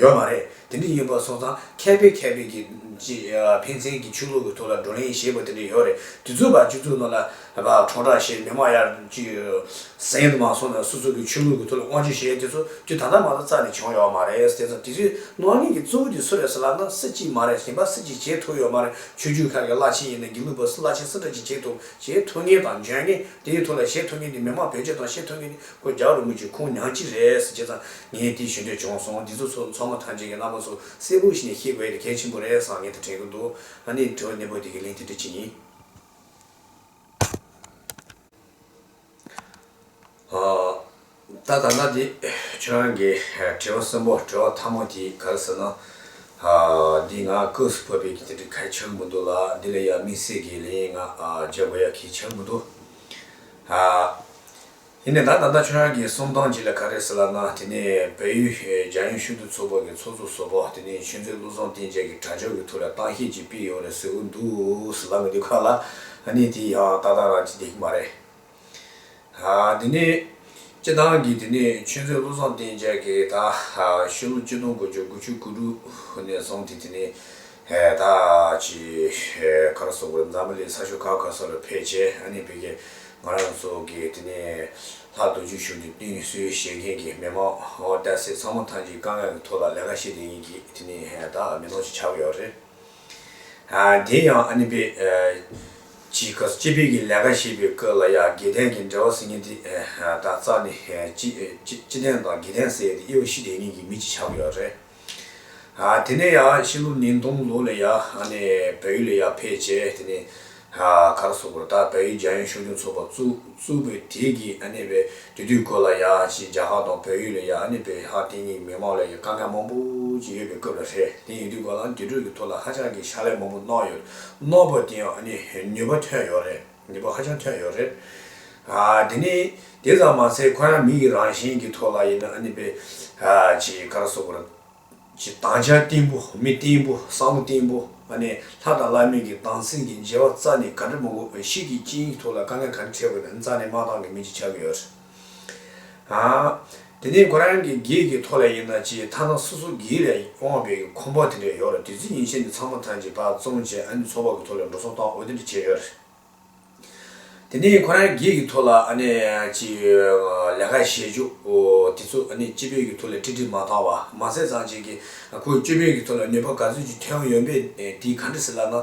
ཡོད་མ་རེད། དེ་འདྲ་ཡིན་པ་སོང་ཙང་མཁས་པའི་མཁས་པའི་གི། ཕན་ཚན་གི་ཆོས་ལུགས་ཀྱི་ཐོག་ལ་བགྲོ་གླེང་བྱེད་པ་དེ་འདྲ་ཡོད་རེད། དུས་ཚོད་བར་གཅིག་ཚུགས་ནང་ལ། གྲོགས་དྲག་ཤེས་མི་མང་ཡར། གཟན་དུ་མ་སོང་ནས་སོ་སོ་གི་ཆོས་ལུགས་ཀྱི་ཐོག་ལ་བསྔོ་བརྗོད་བྱེད་དེ་ཚོ་དུས་ད་ལྟ་མ་གཏོགས་རྩ་ནས་བྱུང་ཡོད་མ་རེད། དེ་ཚོ་དུས་ཚོད་སྣང་གླིང་གི་གཙོ་བོ་དེ་སུ་རེད་ཟེར་ལབ་ན་སུ་གཅིག་མ་རེད་ཞིང་པ་སུ་གཅིག་བྱེད་ཐུབ་ཡོད་མ་རེད་ཆོས་བརྒྱུད་ཁག་གི་བླ་ཆེན་ཡིན་ན་དགེ་ལུགས་པ་སུ་བླ་ཆེན་སུ་འདྲ་གཅིག་བྱེད་ཐུབ་བྱེད་ཐུབ་ངེས་དང་འཇོན་ངེས་དེའི་ཐོག་ལ་བྱེད་ཐུབ་ངེས་དེ་མི་མང་བེད་སྤྱོད་དང་བྱེད་ཐུབ་ངེས་དེ་ཁོ་རྒྱག་རུང་མི་ཆོས་ཁུངས་མྱང་གཅིག་རེད་ཟེར་བྱས་ཙང་ངས་དེའི་ཞུ་འདོད་བྱུང་སོང་འདི་ཚོ་ཚོ་ཚོ་མོ་ཐམས་ཅད་ཀྱི་བླ་མ་ཚོ་སེར་བུ་ཞིག་ནས་ཤེས་དགོས་ཡ་དེ་གལ་ཆེན་པོ་རེད་བསམ་ངས་ད་དྲན་གི་འདུག་ཨ་ནི་དྲི་བ་ནན་པོ་དེ་གི་ལན་དེ་འདྲི་ཅི་ཡིན། ད་ད་ལྟ་དེ་ཁྱོད་རང་གི་དྲི་བ་གསོན་པོ་དྲི་བ་མཐའ་མོ་དེ་ག་རེ་ཟེར་ན། འདི་ང་སྐབས་སུ་བབས་པའི་གི་དེ་འདྲི་གལ་ཆེར་མི་འདུག་ལ་འདི་ལ་ཡ་དམིགས་བསལ་གི་ལན་ཡང་ང་བརྗོད་དགོས་ཡ་གལ་ཆེར་མི་འདུག། ཡིན་ནས་ད་ད་ལྟ་ཁྱོད་རང་གིས་གསུམ་སྟོང་གཅིག་ལ་ག་རེ་ཟེར་ལབ་ན་དེ་ནི་བལ་ཡུལ་རྒྱ་ཡོན་ཤུལ་དུ་ཚོགས་པ་གི་ཚོགས་གཙོ་ཟོ་པོ་དེ་ནི་ཆོས་འཛིན་ཀླུ་བཟང་བསྟན་རྒྱལ་གི་དྲ་ཇོ་གི་ཐུགས་ལ་བཏང་བཤད་ཅིག་སྤིལ་ཡོང་རེ་ཟེར་འུ་འདུག་ལབ་མི་འདུག་ག་ལ་ནི་དེ་ཡང་ཏག་ཏག་རང་གཅིག་བསྡད་ཀི་མ་རེད། དེ་ནི་སྤྱི་བཏང་གི་དེ་ནི་ཆོས་འཛིན་ཀླུ་བཟང་བསྟན་རྒྱལ་གི་ད་ཤི་ལོ་བཅུ་སྟོང་དགུ་བཅུ་དགུ་བཅུ་དགུ་དྲུག་ནས་བཟུང་སྟེ་དེ་ནི་ཧད་ཀྱིས་ཁ་ར་སོག་པོ་འཛམ་བུ་གླིང་ས་ཕྱོགས་ཁ་ཁ་སོགས་ལ་ཕེབས་རྗེས་ཨ་ནེ་བི་ཀས་ང་རང་ཚོ་གི་དེ་ནས་ལྷག་མདོ་རྒྱུད་གཞུང་གི་བསྟུན་གསོལ་བཞེས་མཁན་གྱི་མི་མང་བསྟད་སའི་ཚང་མ་ཐང་ཅིག་དཀའ་ངལ་གྱི་ཐོག་ལ་ལས་ཀ་བྱེད་དེ་ཡིན་གྱིས་དེ་ནས་ཧད་མི་ནོར་ཅིག་ཆགས་ཀྱི་ཡོད་རེད། དེ་ཡང་ཨ་ནེ་བི་ཀྱིས་ཁ་སོག་སྤྱི་པའི་གི་ལས་ཀ་བྱེད་པའི་སྐབས་ལ་ཡང་དགེ་ལྡན་གྱི་འབྲེལ་བ་ཟེར་མཁན་དེ་དག་རྩ་ནས་སྤྱི་ལྡན་དང་དགེ་ལྡན་ཟེར་ཏེ་དབྱེ་བ་ཤི་དེ་ཡིན་གྱིས་མི་ཅིག་ཆགས་ཀྱི་ཡོད་རེད། དེ་ནས་ཡང་ཕྱི་ལོ་ཉིས་སྟོང་ལོ་ལ་ཡང་བལ་ཡུལ་ལ་ཡང་ཕེབས་རྗེས་དེ་ནས་ག་ར་སོག་པོར་དང་བལ་ཡུལ་རྒྱ་ཡོན་ཕྱོགས་སྐྱོང་ཚོགས་པ་བཙུགས། བཙུགས་པའི་དེ་གི་བའི་དུས་དུས་འཁོར་ལ་ཡང་ཕྱིས་རྒྱ་ཧག་དང་བལ་ཡུལ་ལ་ཡང་བལ་ཧག་སྟེང་གི་མི་མང་ལ་ཡང་དཀའ་ངལ་མང་པོ་ཅིག་ཡོད་པའི་སྐབས་ལ་ཧྲལ་དེ་ཡིན་དུས་གོ་ལ་འདི་དྲོད་ཀྱི་ཐོག་ལ་ཧ་ཅང་གི་ཕྱག་ལས་མང་པོ་གནང་ཡོད་གནང་བ་དེ་ཡང་ནུས་པ་ཐོན་ཡོད་རེད། ནུས་པ་ཧ་ཅང་ཐོན་ཡོད་རེད། དེ་ནི་དེ་ཙམ་མ་ཟད་ཁོ་རང་མི་ཡི་རང་བཞིན་གྱི་ཐོག་ལ་ཡིན་ན་ཨ་ནི་པེ་ཅི་ཀར་བསོད་པར་གྱི་དང་བྱ་བརྟན་པོ་མི་བརྟན་པོ་བསམ་བློ་བརྟན་པོ་ཨ་ནི་ལྷ་དང་བླ་མེད་ཀྱི་དང་སེམས་ཀྱི་འབྱེད་བ་རྩ་ནས་ག་འདྲ་མང་པོ་བའི་ཤིག་གི་རྐྱེན་གྱི་ཐོག་ལ་དཀའ་ངལ་ག་འདྲ་འཕྲད་དགོས་པའི་རྩ་ནས་མ་བཏང་གི་མིན་གྱི་ཆགས་ཀྱི་ཡོད་རེད། དེ་ནས་ཁོ་རང་གི་གེགས་ཀྱི་ཐོག་ལས་ཡིན་ན་ཅི་ཐ་ན་སོ་སོ་གེགས་ལས་དབང་བའི་ཁོམ་པ་དེ་འདྲ་ཡོད་རེད་དུས་ཚོད་ཉིན་ཤས་འདི་ཚང་མ་ཐང་ཅིག་བག་བཙོང་བྱས་ཨ་ནི་ཚོགས་པ་གི་ཐོག་ལས་འགྲོ་སོང་བཏང་འོས་དེ་འདྲ་བྱས་ཡོད་རེད། དེ་ནས་ཁོ་རང་གེགས་ཀྱི་ཐོག་ལ་ཨ་ནི་ཅི་ལས་ཀ་བྱེད་ཆོག་དེ་ཚོ་ཨ་ནི་སྤྱི་པའི་གི་ཐོག་ལས་ཁྲིད་ཁྲིད་མ་བཏང་བ་མ་ཟད་ཚང་ཅིག་གིས་ཁོའི་སྤྱི་པའི་གི་ཐོག་ལས་ནུས་པ་ག་ཚོད་ཅིག་ཐོན་ཡོད་མེད་དེ་ག་འདྲ་ཟེར་ལབ་ན།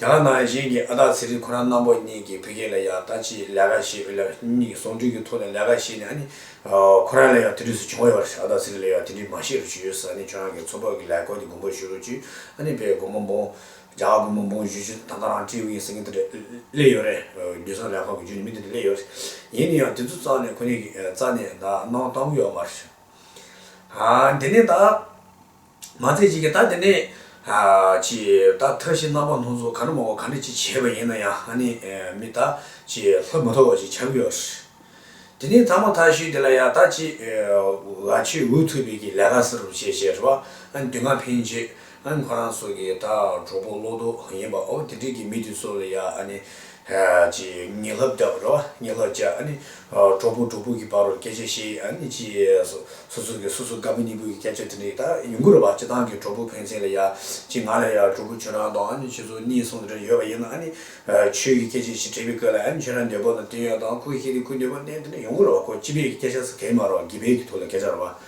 རྒྱ་ནག་ནང་བཞིན་གྱི་ཨ་སྟག་ཚེ་རིང་ཁོ་རང་རྣམ་པོ་གཉིས་ཀྱིས་བོད་རྒྱལ་ལ་ཡང་ལྟ་ཅི་ལས་ཀ་བྱེད་ཀྱི་ལབ་གཉིས་ཀྱི་ཟུང་འབྲེལ་གྱི་ཐོག་ནས་ལས་ཀ་བྱས་ནས་ནི་ཁོ་རང་ལ་ཡང་དེ་དུས་སུ་བྱུང་ཡོད་པ་རེད་ཨ་སྟག་ཚེ་རིང་ལ་ཡང་དེ་དུས་མ་ཤེས་རུ་བྱུང་ཡོད་ས་ནི་ཁྱོད་རང་གི་མཚོ་འབབ་ཀྱི་ལས་སྐོར་གྱི་དགོངས་པ་ཞུ་རུ་བྱུས་ཨ་ནི་བའི་དགོངས་པ་འབུངས། རྒྱ་གར་དགོངས་པ་འབུངས་བཞུས་བཞུས་ད་ལྟ་རང་སྤྲེའུ་ཡིན་ཟེར་མཁན་དེ་འདྲ་སླེབས་ཡོད་རེད་རྒྱུ་ཟངས་ལས་ཁང་གི་རྒྱུན་ནས་མི་དེ་འདྲ་སླེབས་ཡོད་རེད་ཡིན་ནི་ཡང་དེ་ཚོ་རྩ་ནས་ཁོ་གཉིས་ཀྱིས་རྩ་ནས་ད་གནང་གཏང་གི་ཡོད་མ་རེད། དེ་ནི་ད། མ་ཚད་ཅིག་གིས་ད་དེ་ནས། ཅིག། ད་མཐའ་བཞི་རྣམ་པ་སྣོད་ཚོགས་ག་འདྲ་མང་བ་ག་འདྲ་ཅིག་བྱས་པ་ཡིན་ན་ཡང་ཧ་ནི། མི་ད། ཅིག་ལྷག་མ་ཐོབ་བ་ཞིག་ཆགས་ཀྱི་ཡོད། དེ་ནས་ད་མ་མཐའ་བཞི་དེ་ལ་ཡང་ད་ཅིག། ཝ་ཆོས་འོས་ཐོབ་པའི་གི་ལས་ཀ་ཟེར་རོ་ཞེས་བྱས་པ། དུས་སྔ་ཕན་རྗེས། ཁོ་རང་སོགས་ཀྱི་ད་གྲོགས་པོ་བློ་ལྡོག་ཡིན་པའོ་དེ་འདྲས་ཀྱི་མི་དེ་ཚོ་ལ་ཡང་ཨ་ནི། ཅེས་ཉིད་ལྷ་བརྒྱ་པ་རོ་ཉིད་ལྷ་བརྒྱ་ནི། གྲོགས་པོ་གྲོགས་པོ་གྱི་བར་རོ་སྐད་ཆ་བཤད་ཡིན་ཅེས་སོ། སོ་སོ་གིས་སོ་སོ་དགའ་པོ་གཉིས་པོ་ཡི་སྐད་ཆ་དེ་འདྲ་ཡི་དག་ཡུན་གུར་བ་སྤྱི་དང་གི་གྲོགས་པོ་ཕན་ཚན་ལ་ཡ། ཅི་ང་ལ་ཡ་གྲོགས་པོ་ཁྱོད་རང་དང་ཁྱོད་ཚོ་གཉིས་གསུང་དེ་འདྲ་ཡོད་པ་ཡིན་ན། ཆོས་ཀྱི་སྐད་ཆ་ཞིག་དྲིས་པའི་སྐོས་ལ་ཁྱོད་རང་འདོད་པ་དང་བསྟུན་ཡོད་དང་ཁུ་ཤེས་ཏེ་ཁུ་འདོད་པ་གནས་དེ་འདྲ་ཡུན་གུར་བ་ཁོ་སྤྱི་པའི་སྐད་ཆ་ཟེར་ག་ཡི་མ་རོ་སྒི་པའི་གི་ཐུགས་ལ་སྐད་ཆ་རོ་བ།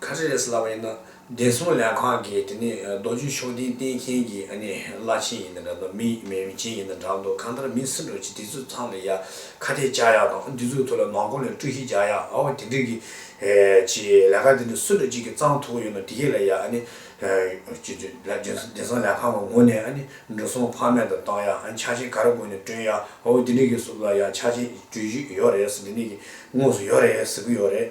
ཁ་རས་སླ་བ་ཡིན་ན་བདེ་སྲུང་ལས་ཁང་གི་དེ་ནས་རྡོ་རྗེ་ཕྱོགས་སྡིངས་བསྟན་མཁན་གྱི་ཨ་ནེ་བླ་ཆེན་ཡིན་ན་འདྲ་འདུག་མི་མེད་མི་ཆེན་ཡིན་ན་འདྲ་འདུག་གང་ལྟར་མི་སེར་འགྲོ་ཆེད་དེ་ཚོ་ཚང་ལ་ཡ་ཁ་གཏད་བཅག་ཡག་དང་དེ་ཚོའི་ཐུགས་ལ་ནང་ཁོང་ལས་སྤྲོད་ཤིག་བྱ་ཡག་ཨའོ་དེ་འདྲ་གི་ཆེ་ལས་ཁ་དེ་འདྲ་སུ་འགྲོ་གཅིག་གི་གཙང་ཐུགས་ཡོད་ན་དེ་གས་ལ་ཡ་ཨ་ནེ་བདེ་སྲུང་ལས་ཁང་ལ་ངོ་ནས་ཨ་ནེ་འགྲོ་སོང་ཕ་མེས་དང་བཏང་ཡག་ཕྱག་ཆེན་ག་རེ་དགོས་ནས་བསྐྲུན་ཡག་ཨའོ་དེ་འདྲ་གི་སུ་ལ་ཡ་ཕྱག་ཆེན་བསྐྲུན་བཞུད་ཡོད་རེད་ཟེར་དེ་འདྲ་གི་དངོས་སུ་ཡོད་རེད་ཟེར་གི་ཡོད་རེད།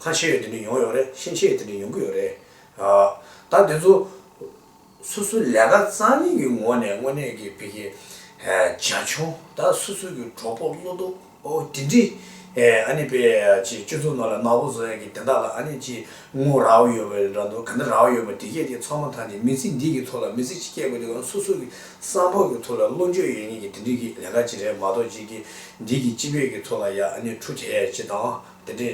ཁ་ཆེ་ཡོད་དེ་འདྲས་ཡོང་ཡོད་རེད་ཤིང་ཆེ་ཡོད་དེ་འདྲས་ཡོང་གི་ཡོད་རེད། ད་དེ་ཚོ་སོ་སོའི་ལས་ཀ་རྩ་གཉིས་ཀྱི་ངོ་ནས་དངོས་གནས་ཀྱི་བི་ཀི་བྱ་ཆུང་ད་སོ་སོའི་ཀྱི་གྲོགས་པོ་བློ་སྟོབས་དེ་འདྲས་ཨ་ནི་པེ་ཅི་སྤྱི་ཚོགས་ནང་ལ་ནག་པོ་བཟོ་ཡག་གི་དེ་དག་ལ་ཨ་ནི་ཅི་ངོ་ར་བ་ཡོད་པ་རེད་འདུག་ག་འདི་ར་བ་ཡོད་པ་དེ་སྐད་ཅིག་ཚང་མ་ཐང་ཅིག་མི་ཚེ་འདི་གི་ཐོག་ལ་མི་ཚེ་གཅིག་སྐྱེལ་དགོས་དུས་ཨ་སོ་སོ་ཀྱི་བསམ་ཕོག་གི་ཐོག་ལ་བློ་འགྱོད་ཡོད་ངེས་ཀྱི་དེ་འདྲས་ཀྱི་ལས་ཀ་ཅིག་རེད་མ་གཏོགས་ཅིག་གི་འདིས་ཀྱི་སྤྱི་བོད་ཀྱི་ཚོགས་ལ་ཡང་ནི་ཁྲུ་བྱ་ཡས་བྱེད་དང། དེ་འདྲའི་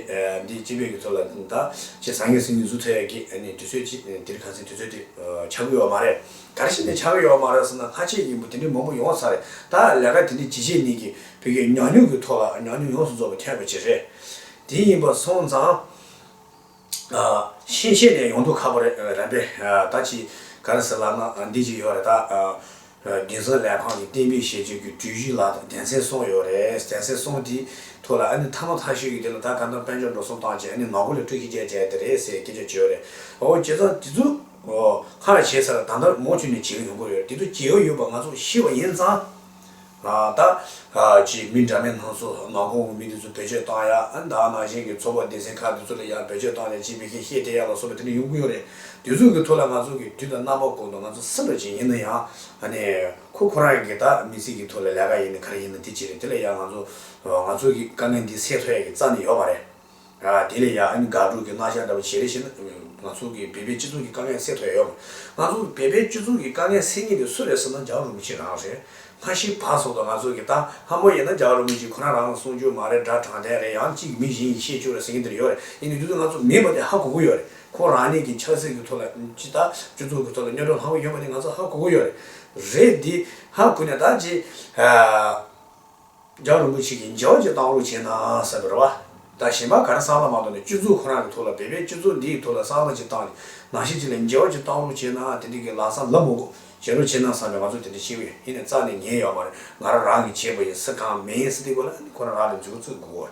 འདིས་སྤྱི་བོད་ཀྱི་ཚོགས་ལ་ད་ཅི་ཟང་ངེ་སིང་ངེ་གཟུགས་ཚོལ་ཡས་ཀྱི་ནི་དུས་ཚོད་ཅིག་འདིར་གང་སེང་དུས་ཚོད་དེ་ཆག་གི་ཡོད་མ་རེད། དར་ཞིག་ནི་ཆག་གི་ཡོད་མ་རེད་ཟེར་ན་ལྷ་ཆེ་ཡིན་པོ་དེ་འདྲའི་མང་པོ་ཡོང་ས་རེད་ད་ལས་ཀ་དེ་འདྲའི་ཇི་བྱས་ནས་ཀྱི་བོད་རྒྱ་ཉག་ཉུག་གི་ཐོག་ལ་ཉག་ཉུག་ཡོངས་སུ་རྫོགས་པའི་ཐེག་པ་ཅིག་རེད་དེ་ཡིན་པ་སོང་ཙང། ཤེས་བྱས་ནས་ཡོང་འདུག་ཁ་པོ་རན་པས་ད་ཅི་ག་རེ་ཟེར་ལབ་ན་འདི་ཅིག་ཡོད་རེད་ད། རྒྱུན་བཟང་ལས་ཁང་གི་གཏན་འབེབས་བྱེད་སྤྱོད་ཀྱི་གྲོས་གཞི་ལ་ད་གདན་སའི་སོང་ཡོད་རེད་གདན་སའི་སོང་དེའི་ཐོག་ལ་ཨ་ནི་མཐའ་མ་མཐའ་ཤོས་ཀྱི་དེ་ལ་ད་ག་འདོམ་དཔལ་འབྱོར་འགྲོ་སོང་བཏང་རྗེས་ཨ་ནི་མ་གོ་ལེ་ཀྲུག་ཤིག་བསྐྱལ་བསྐྱལ་དེ་རེད་ཟེར་སྐད་ཆ་བརྗོད་རེད། ཨོ་ཁྱེད་ཚང་དེ་ཚོ་ཁ་ལ་བྱས་ཚར་ད་ལྟར་མོག་ཆུ་ནས་བྱེད་ཀྱི་ཡོང་གི་རེད་དེ་ཚོ་བྱེད་ཀྱི་ཡོད་པ་ང་ཚོ་ཤེས་པ་ཡིན་ཙང། ད་ཅིའི་མི་འདྲ་མེད་སྣ་ཚོགས་མངའ་ཁོངས་ཀྱི་མི་དེ་ཚོ་བེད་སྤྱོད་བཏང་ཡ། ད་ནང་བཞིན་གྱི་ཚོགས་པ་སྡེ་ཚན་ཁག་དེ་ཚོ་ལ་ཡང་བེད་སྤྱོད་བཏང་ནས་སྤྱི་པའི་ཁེ་ཤེས་སྤྲད་ཡ་ལ་སོགས་པ་དེ་འདྲ་ཡོང་གི་ཡོད་རེད། དེ་ཚོ་གི་ཐུགས་ལ་ང་ཚོ་གི་དུས་དང་རྣམ་པ་དགོས་འདུག་ང་ཚོ་སེམས་པ་ཅན་ཡིན་ན་ཡང་ནི། ཁོ་ཁོ་རང་གི་ད་མི་ཚེ་གི་ཐུགས་ལ་ལས་ཀ་ཡིན་ནི་ག་རེ་ཡིན་ན་དེ་བྱེད་རེད་དེ་ལ་ཡང་ང་ཚོ་ང་ཚོ་གི་དཀའ་ངལ་འདི་སེལ་ཐུབ་ཡ་གི་རྩ་ནས་ཡོད་པ་རེད། དེ་ལས་ཡང་དགག་སྒྲུབ་ཀྱི་བསླང་བྱ་ལྟ་བུ་བྱེད་རེ་ཤི་ན། ང་ཚོ་གི་བོད་པའི་སྤྱི་ཚོགས་ཀྱི་དཀའ་ངལ་སེལ་ཐུབ་ཡ་ཡོད་མ། ང་ཚོ་བོད་པའི་སྤྱི་ཚོགས་ཀྱི་དཀའ་ངལ་སེལ་ངེས་དེ་སུ་རེད་ཟེར་ན་ཇག་རུ་མི་གཅིག་རང་རེད། སྔ་ཕྱིའི་བར་སོག་ཏུ་ང་ཚོ་གི་ད་ལྷ་མོ་ཡིན་ན་ཇག་རུ་མི་གཅིག་ཁོ་ན་རང་ལ་གསུང་རྒྱུ་མ་རེད་དགྲ་དྲངས་ཐལ་རེད་ཡང་གཅིག་མི་གཞན་གྱི་ཤེས་ཆུག་རེད་ཟེར་མཁན་འདིར་ཡོད་རེད་ཡིན་ནའི་དུས་ཚོད་ང་ཚོ་མེད་པ་དེ་ཧ་གོ་གི་ཡོད་རེད་ཁོང་རང་ཉིད་ཀྱི་ཆགས་སྲེད་ཀྱི་ཐོག་ལ་ཅི་ད་སྤྱི་ཚོགས་ཀྱི་ཐོག་ལ་སྙོན་འགྲོ་ལྷག་པོ་ཡོད་པ་དེ་ང་ཚོ་ཧ་གོ་གི་ཡོད་རེད། རེད་དེ་ཧ་གོ་ནས་ད་ཅི། སྦྱང་རིན་པོ་ཆེ་གིས་འཇལ་བ་བཅས་བཏང་ལུགས་བྱས་ནའང་ཟབ་པའི་རེ་བ། ད་གཞན་པ་ག་རེ་སྲང་ལ་མ་གཏོང་ནས་སྤྱོད་ཚུལ་ཁོ་རང་གི་ཐུགས་ལ་འབད་པས་སྤྱོད་ཚུལ་འདིའི་ཐུགས་ལ་སྲང་ལ་ཅིག་བཏང་ནས་ནང་བཞིན་ཅིག་ལས་འཇལ་བ་བཅས་བཏང་ལུགས་བྱས་ནའང་དེ་འདྲའི་གི་ལག་ས་ལབ་མོ་གོ། བྱེད་ལུགས་བྱེད་ན་བསམ་པའི་ང་ཚོ་དེ་འདྲའི་ཤེས་ཡོན་ཧི་ནས་རྩ་ནས་ཉེན་ཡོད་མ་རེད་ང་རང་རང་གིས་བྱས་པ་ཡིན་སྲིད་ཁང་མེད་ཡིན་སྲིད་དེ་ཀོ་ལ་ཁོ་རང་རང་ལས་འཛུལ་གཙོས་དགོས་གོ།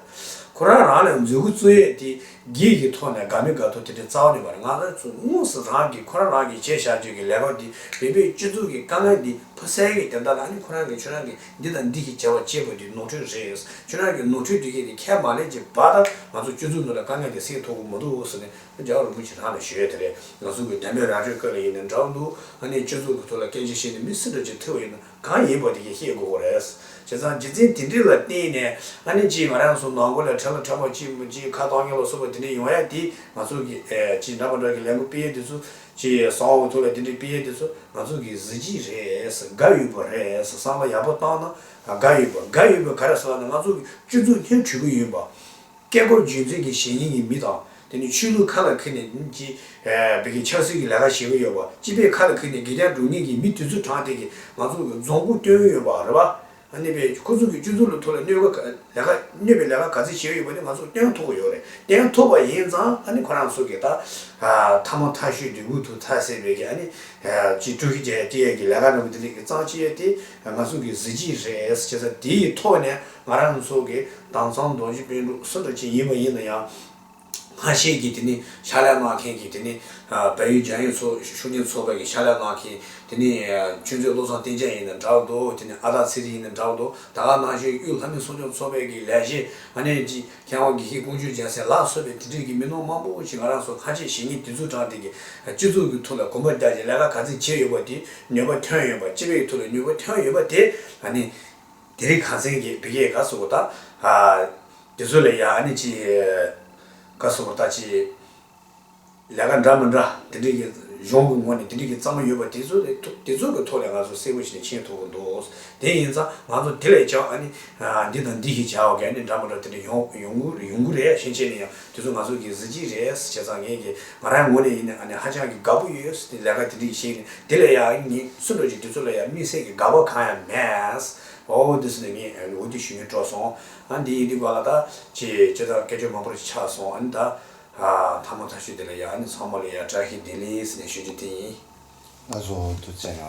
ཁོ་རང་རང་ལས་འཛུལ་གོ་གཙོས་ཡས་དེ་གིས་གི་ཐོག་ནས་དགའ་མི་དགའ་ཐུགས་དེ་འདྲའི་རྩ་བ་ནས་མ་རེད་ང་ལོས་ཚོ་དངོས་སུ་རང་གིས་ཁོ་རང་རང་གིས་བྱས་བཞག་སྤྱོད་གི་ལས་རོགས་འདི་བེད་པས་སྤྱོད་ཚུལ་གི་དཀའ་ངལ་འདི་ཕོ་གསལ་གི་དེ་ལྟར་ལ་ཁོ་རང་གིས་ཁྱོད་རང་གིས་འདི་དང་འདི་ཞེས་བྱ་བ་ཅི་མི་སྡུད་ནོར་འཁྲུལ་རེད། ཁྱོད་རང་གི་ནོར་འཁྲུལ་སྡུད་མཁན་དེ་ཁྱད་མ་ལས་ཀྱི་བ་དང་ང་ཚོ་སྤྱོད་ཚུལ་འདི་ལ་དཀའ་ངལ་དེ་སེལ་ཐུབ་གི་མི་འདུག་ཟེར་ནས་ཨ་ཇག་རིན་པོ་ཆེ་རང་ལ་ཞུས་དེ་རེད་ང་ཚོ་གི་དད་མོས་ར་སྤྲོད་སྐབས་ལ་ཡིན་ནའི་འདྲ་བོ་འདུག་ཨ་ནེ་སྤྱོད་ཚུལ་གི་ཐོག་ལ་སྐད་ཆ་བཤད་ནས་མི་སེམས་འདྲ་ཅིག་ཐོལ་བ་ཡིན་ན་གང་ཡིན་པ་དེ་ཀྱང་ཤེས་དགོས་གོ་རེད། བྱས་ཙང་རྗེས་འཛིན་དེ་འདྲི་ལ་བརྟེན་ནས་ཨ་ནེ་ཅིས་ང་རང་ཚོ་ནང་སྒོ་ལས་ཁྲལ་ལ་ཁྲལ་བ་ཅིས་ཁ་བཏང་ཉོ་ལ་སོགས་པ་དེ་འདྲ་ཡོང་ཡ་དེ་ང་ཚོ་གི་ཅིས་འདྲ་པ་འདྲ་གི་ལས་འགུལ་སྤེལ་ཡ་དེ་ཚོ་ཅེས་ཡ་ས་འོག་ཐུག་ལ་དེ་འདྲའི་དཔེ་ཡས་དེ་ཚོ་ང་ཚོ་གི་གཟི་བརྗིད་རེད་དགའ་ཡོད་པོ་རེད་བསམ་བློ་ཡག་པོ་བཏང་ན་དགའ་ཡོད་པོ་དགའ་ཡོད་པོ་ག་རེ་ཟེར་བ་ནི་ང་ཚོ་གི་སྤྱོད་ཚུལ་སྙན་འཕྲུལ་པོ་ཡིན་པ། སྐད་སྐོར་རྒྱུན་འཛིན་གྱི་གཞན་ཉིན་གྱི་མི་དང་དེ་ནི་ཆོས་ལུགས་ཁ་ལ་ཁུར་ནས་ནི་ཅི་བེད་ཀྱི་ཆབ་སྲིད་ཀྱི་ལས་ཀ་བྱེད་གི་ཡོད་པ་སྤྱི་བེད་ཁ་ལ་ཁུར་ནས་དགེ་རྒྱ་སྒྲུབ་ངེས་ཀྱི་མི་དུས་ཚོད་གྲངས་དེ་གི་ང་ཚོ་གི་རྫོང་སྐུ་སྟོན་ཡོད་པ་རེད་པ། གནས་པའི་ཁོ་ཚོ་གི་སྤྱོད་ཚུལ་ལ་ཐུག་ལ་གནོད་པའི་ལས་ཀ་ག་ཚོད་བྱས་ཡོད་པ་ནི་ང་ཚོ་སྟོན་ཐུབ་པ་ཡོད་རེད་སྟོན་ཐུབ་པ་ཡིན་ཙང་ཁོ་རང་ཚོ་གི་ད་ཐ་མ་ཐ་ཤུལ་དུས་འུ་ཐུག་ཐ་སེ་བའི་གི་ཅི་ཀྲུའུ་ཞི་ཅེ་ཡན་གི་ལས་ཀ་རྣམས་དེ་ལས་གི་གཙང་ཆེ་དེ་ང་ཚོ་གི་གཟི་བརྗིད་རེད་བྱས་ཙང་དེའི་ཐོག་ནས་ང་རང་ཚོ་གི་དྭངས་གཙང་རྡོ་རྗེ་དཔོན་གྲུགས་སུ་འདྲ་ཅན་ཡིན་པ་ཡིན་ན་ཡང། སྔ་ཕྱི་ཀྱི་དེ་ནི་ཤ་ལ་སྣག་མཁན་གྱི་དེ་ནི་བལ་ཡུལ་འཇང་ཡུལ་ཚོ་ཤུགས་ཀྱིན་ཚོ་བལ་གྱི་ཤ་ལ་སྣག་མཁན་དེ་ནི་ཆོས་མཛོད་བློ་བཟང་བསྟན་བྱ་ཡིན་ན་འདྲ་བ་འདུག་དེ་ནི་ཨ་སྟག་ཚེ་རིང་ཡིན་ན་འདྲ་བ་འདུག་ད་ག་ནང་ཆོས་གཡུ་ལྷ་མི་གསོ་སྐྱོང་ཚོ་བལ་གྱི་ལས་བྱེད་ཨ་ནེ་ཅི་མཁས་དབང་དགེ་བཤེས་ཀུན་སྤྱོད་རྒྱལ་སྲས་ལགས་གསོལ་བའི་དེ་དུས་ཀྱི་མི་ནོར་མང་པོ་ཞིག་ང་རང་ཚོ་ཁ་ཆེ་ཞེ་གཉིས་དེ་ཚོ་དྲང་བདེན་གྱི་སྤྱི་ཚོགས་ཀྱི་ཐུགས་ལ་གོམ་པ་རྒྱག་ཅིང་ལས་ཀ་ག་ཚད་བྱས་ཡོད་པ་དེ་ནུས་པ་ཐོན་ཡོད་པ་སྤྱི་བའི་ཐུགས་ལ་ནུས་པ་ཐོན་ཡོད་པ་དེ་ལ་ནི། དེ་རིང་གངས་སེང་གིས་བི་ཀའི་ག་སུ་པོ་དང། དེ་ཚོ་ལས་ཡ་ཨ་ནི་ཅི། ག་སུ་པོ་དང་ཅི། ལས་ཀ་འདྲ་མི་འདྲ་དེ་འདྲ་གི་གཞུང་གི་ངོ་ནས་དེ་འདྲ་གི་གཙང་མ་ཡོད་པ་དེ་ཚོ་ལས་དེ་ཚོ་གི་ཐོག་ལས་ང་ཚོ་གསལ་པོ་ཞིག་ནས་མཁྱེན་ཐུབ་པོ་འདུག་དེ་ཡིན་ཙང་ང་ཚོ་དེ་ལས་ཀྱང་ཨ་ནི། འདི་དང་འདི་ཞེས་བྱ་བ་ག་ནི་འདྲ་མི་འདྲ་དེ་འདྲ་ཡོང་གི་རེད་ཤེས་ཆེ་ནས་ཡང། དེ་ཚོ་ང་ཚོ་གི་གཟི་བརྗིད་རེད་བྱས་ཙང་ངེད་ཀྱི་ང་རང་གི་ངོ་ནས་ཡིན་ནའང་ནི་ཧ་ཅང་གི་དགའ་པོ་ཡོད་ལས་ཀ་དེ་འདྲི་ཡི་ཤེས་ནས་དེ་ལས་ཡང་ངེད་སུ་འགྲོ་ཅིག་དེ་ཚོ་ལ་ཡང་དམིགས་བསལ་གྱི་དགའ་བ་གང་ཡང་མེད། ཨོའོ་འདི་ཚོ་ནི་ངེད་འོ་དུད་ཞུ་མིན་སྤྲོ་སོང། ཨ་འདི་ཡིན་འདི་དགོས་ལ་ད། ཅེས་ཅེས་ཙང་སྐད་ཅོར་མང་པོ་རེ་ཆགས་སོང་ཨ་ནི་ད། ཐ་མ་ཐག་ཤོད་དེ་ལ་ཡང་ཨ་ནི་ཚང་མ་ལ་ཡང་བཀྲ་ཤིས་བདེ་ལེགས་ཟེར་ནས་ཞུ་རྒྱུ་དེ་ཡིན། ཨ་ཚོགས་འོ་དུད་བཙལ་ན